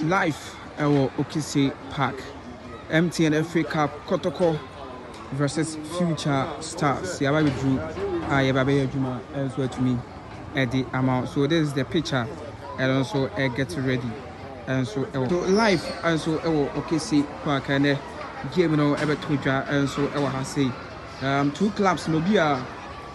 Live wɔ Okise Park, MTN FA Cup Kɔtɔkɔ vs Future Stars, yɛaba abɛduru a yɛba bɛyɛ adwuma nso atumi de ama wo. So this is the pitch a ɛno nso get ready nso wɔ. So live nso wɔ Okise Park, ɛnɛ game no bɛto dwa nso wɔ ha sei. Um two claps na obiara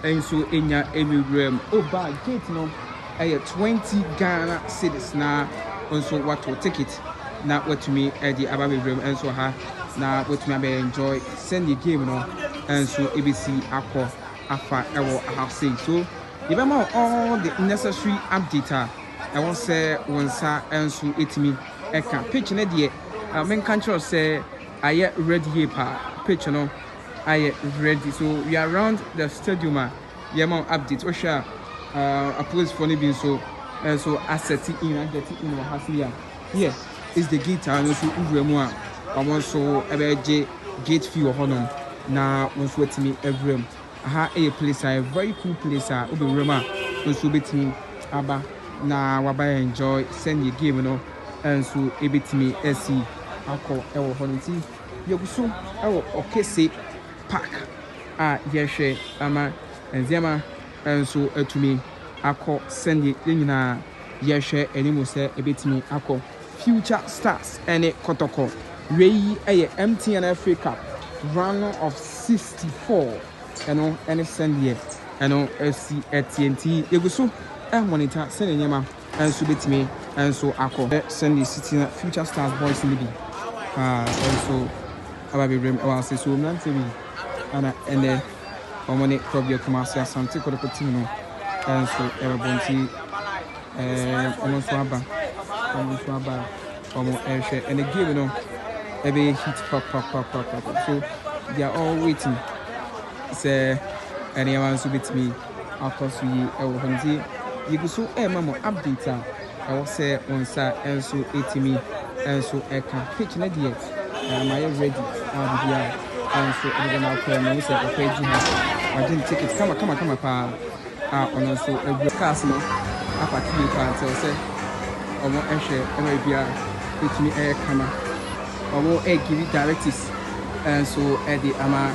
nso nya awuwura mu. Oh baa gate no ɛyɛ twenty Ghana cedis na nso wato ticket na watumi ɛde aba awuwura mu nso ha na watumi abɛ enjoy sɛnea game no nso ebesi akɔ afa ɛwɔ aha sei so yɛbɛma wo all the necessary update a ɛwɔ sɛ wo nsa nso etumi ɛka pitch no deɛ menka nkyerɛ sɛ ayɛ red yie paa pitch no. ayɛ ready so we are round the stadium a yɛma wo update wohwɛ a uh, apolicefoɔ no bi nso nso eh, asɛte in agɛte in wɔ ha so yi a here is the gate a no nso wowura mu a wɔn nso ɛbɛgye gate fee wɔ hɔnom na wɔn nso atumi awura mu aha ɛyɛ place a very cool place a wobɛwura mu a nso wobɛtumi aba na waba enjoy sɛnea game no nso ɛbɛtumi asi akɔ ɛwɔ hɔ no nti Yɛgu so wɔ ɔkɛse park a yɛhwɛ ama nneɛma nso atumi akɔ sɛdeɛ yɛn nyinaa yɛhwɛ anim sɛ ɛbɛtumi akɔ. Future Stars ne Kɔtɔkɔ. Wei yɛ MTN FA Cup Round of 64. Ɛno ne sɛdeɛ ɛno si teɛ nti yɛgu so monitor sɛdeɛ nneɛma. nso bɛtumi nso akɔ. Hwɛ sɛdeɛ ɛsi teɛ, Future Stars boys no bi paa nso aba abɛwura mu wɔ Asesoɔ mmeranteɛ bi a na ɛnnɛ wɔne Korɔbea Kumasi Asante Kotoko team no nso rebɔ nti wɔn nso aba, wɔn nso aba a wɔrehwɛ. Ɛnna game no ɛbɛyɛ heat papapapapa, so they are all waiting sɛ nneɛma nso bɛtumi. akɔ so yi wɔ hɔ nti, yegu so rema mo update a ɛwɔ sɛ wo nsa nso tumi nso ka. Pitch no deɛ mayɛ ready a biribiara nso deda no akorɛ. Mahu sɛ papa yi gye ha, wagye ne ticket kama kama kama pa ara a ɔno nso agu. Cars no apake yie pa ara nti ɛwɔ sɛ wɔhwɛ ma biribiara tumi yɛ kama. Wɔre give directives nso de ama.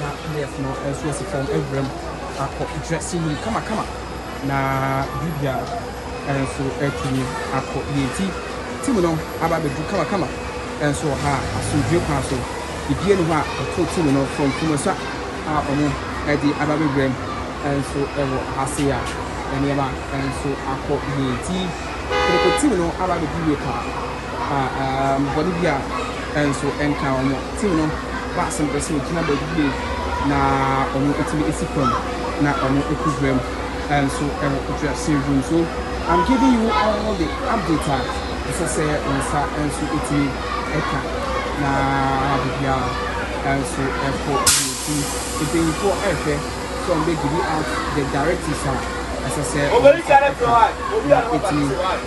na Leif no nso asi fam awura mu akɔ dressing room kamakama, na Julia nso atumi akɔ yie. Enti Tim no aba abɛduru kamakama nso wɔ ha a, asomdwoeɛ kwan so. Biribiara nni hɔ a ɛto Tim no from Kromosua a wɔde aba abɛwura mu nso wɔ ha sei a, nneɛma nso akɔ yie. Enti Kotoko Tim no aba abɛduru yie pa ara. um bɔne bi a nso ɛnka wɔn. Tew no baa sɛ mepɛ sɛ ogyina baabi bio na wɔatumi asi fam na wɔakɔ wuram nso wɔ mfiase adwuma So I'm giving you all the update a ɛsɛ sɛ wo nsa nso tumi ka na ama biribiara nso ɛkɔ yie. Nti mpanyinfoɔ ɛrehwɛ sɛ wɔbɛ give you out the directives a ɛsɛ sɛ wɔn nsa ka na ɛtumi.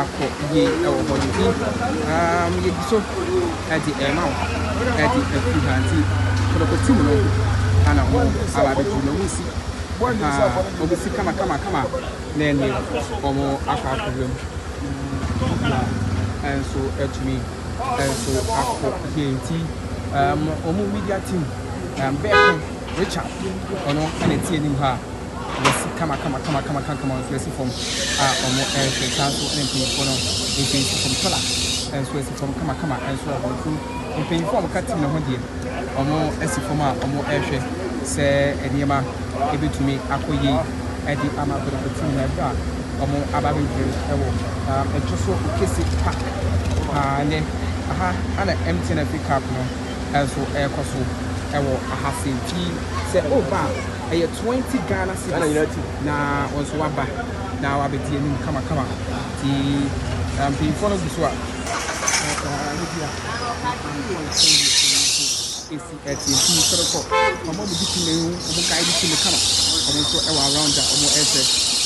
akɔ yie wɔ hɔ no bi um, yɛdi so de ɛma wo de afiri ha nti kɔdɔkɔti mu no ana wɔn aba abɛfiri na wɔn si ha wɔn si kama kama kama na ɛne wɔn akɔ akɔwura mu na ɛnso atumi ɛnso akɔ yie nti um, wɔn media team um, bɛɛko richard ɔno ɛna ɛte anim ha wɔsi kamakamakamakama nso si fam a wɔrehwɛ. Saa ara nso na mpanyimfoɔ no mfin si fam. Solar nso si fam kamakama nso wɔ hɔ. Nso mpanyimfoɔ a wɔka tim no ho deɛ, wɔasi fam a wɔrehwɛ sɛ nneɛma bɛtumi akɔ yie de ama Kwadwofoɔ tim no ɛberɛ a wɔaba abɛdware no wɔ ɛtɔ so kɛse pa paa nnɛ. Aha na MTN Africa Cup no nso rekɔ so wɔ ha sei. Nti sɛ woreba a, ɛyɛ twenty Ghana cedis na wɔn nso waba na wabɛdi anim kamakama ti mpanyinfoɔ no gu so a esi ɛteɛ ti sɔrɔ kɔ wɔn a wɔdi ti na ehu wɔn ka edi ti no kama wɔn nso ɛwɔ around a wɔn ɛsɛ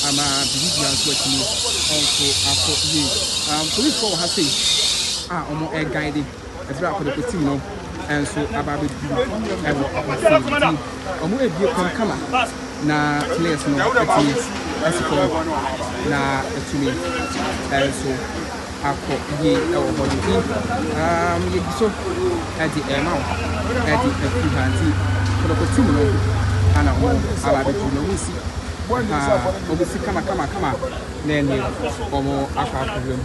ama bibi bia nso atumi ɔnso akɔ yie polisifoɔ wɔ ha sei a wɔn ɛguide. Ɛberɛ a Kɔdɔkɔtim no nso aba abɛduru wɔ Apasin nti, wɔrebue kwan kama na Tenayɛs no atumi asi fam hɔ na atumi nso akɔ yie wɔ hɔ no nti, um, yɛdi so de ɛrema wo de afiri ha nti, Kɔdɔkɔtim no ana wɔn aba abɛduru na wɔresi ha, wɔresi kama kama kama na ɛneɛ wɔn akɔ akɔwura mu.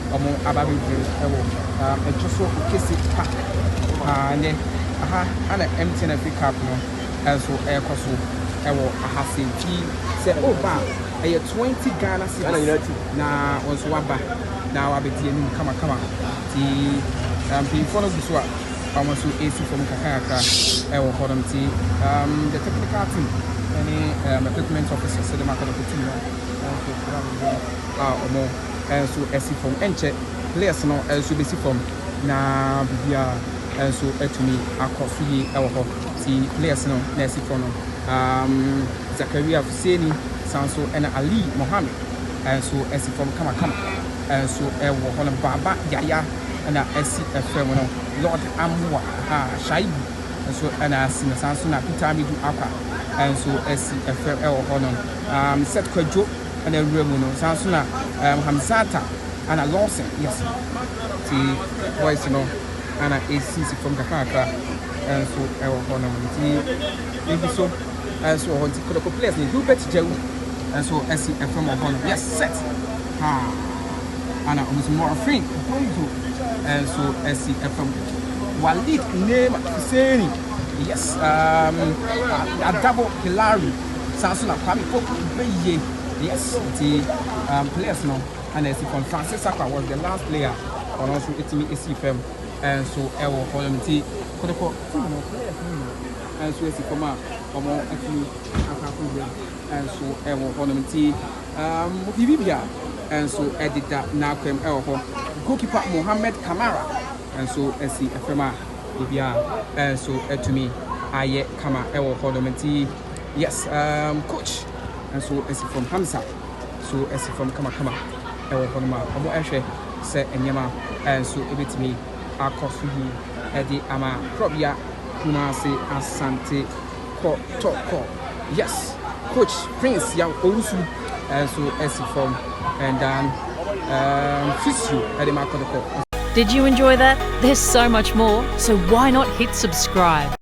ɔmo aba abɛgyina mu ɛwɔ ɛɛ ɛto so kɛse park paa nɛ aha ɛna MTN Africa Cup no ɛnso ɛɛkɔ so ɛwɔ aha sei nti sɛ ooba a ɛyɛ 20 Ghana cedis na wo nso waba na wabɛdi anim kama kama nti ɛɛ mpanyinfoɔ no gu so a ɔmo nso ɛɛsi fam kakra kakra ɛwɔ hɔ nom nti ɛɛm the technical team ɛne ɛɛm equipment officers ɛde mo akɔ akɔtum no ɛnso ɛɛm a ɔmo. nso asi fam. Ɛnkyɛ, players no nso bɛsi fam na biribiara nso atumi akɔ so yie wɔ hɔ. Ti players no na asi fam no, Zakaria Fuseni san nso na Ali Mohammed nso asi fam kamakama nso wɔ hɔ no. Baba Yaya na asi fam no. Lord Amoa, Shaibu nso na asi no. Saa nso na Peter Amidu Akwa nso asi fam wɔ hɔ no. Seth Kwadwo. ɛna awura mu no san so na um, Hamzata ana Lawson yes ti voice no ana esisi fam kakrakra nso ɛwɔ hɔ nom nti ebi so nso wɔ hɔ nti kɔdɔkɔ players ne Hubert Jawu nso ɛsi ɛfam wɔ hɔ nom yes set ha ana wɔn nso Morfin Bongo nso ɛsi ɛfam Walid Neema Husseini yes um, Adabo Hilary Saa nso na Kwame Poku bɛyɛ deɛ ɛsi te um, players no ana ɛsi fam. Francis Sakwa was the last player ɔno nso ɛtumi ɛsi fam ɛnso ɛwɔ hɔ nom ti kɔdɔkɔ team no players no nyina ɛnso ɛsi fam a ɔmo ɛtumi akɔ akɔ wura ɛnso ɛwɔ hɔ nom ti um, biribi bia ɛnso ɛdeda n'akwam ɛwɔ hɔ. Goalkeeper Mohammed Kamara ɛnso ɛsi ɛfam a. Ebia nso atumi ayɛ kama wɔ hɔ nom nti yes um coach nso asi fam Hamza nso asi fam kama kama wɔ hɔ nom a wɔn ɛhwɛ sɛ nneɛma nso ebetumi akɔ so yie ɛde ama Korɔbea Kumasi Asante. Kɔ tɔ kɔ yes coach prince yaw owusu ɛnso ɛsi fam and dan um, fisio ɛde ma kɔtɔkɔ. Did you enjoy that? There's so much more, so why not hit subscribe.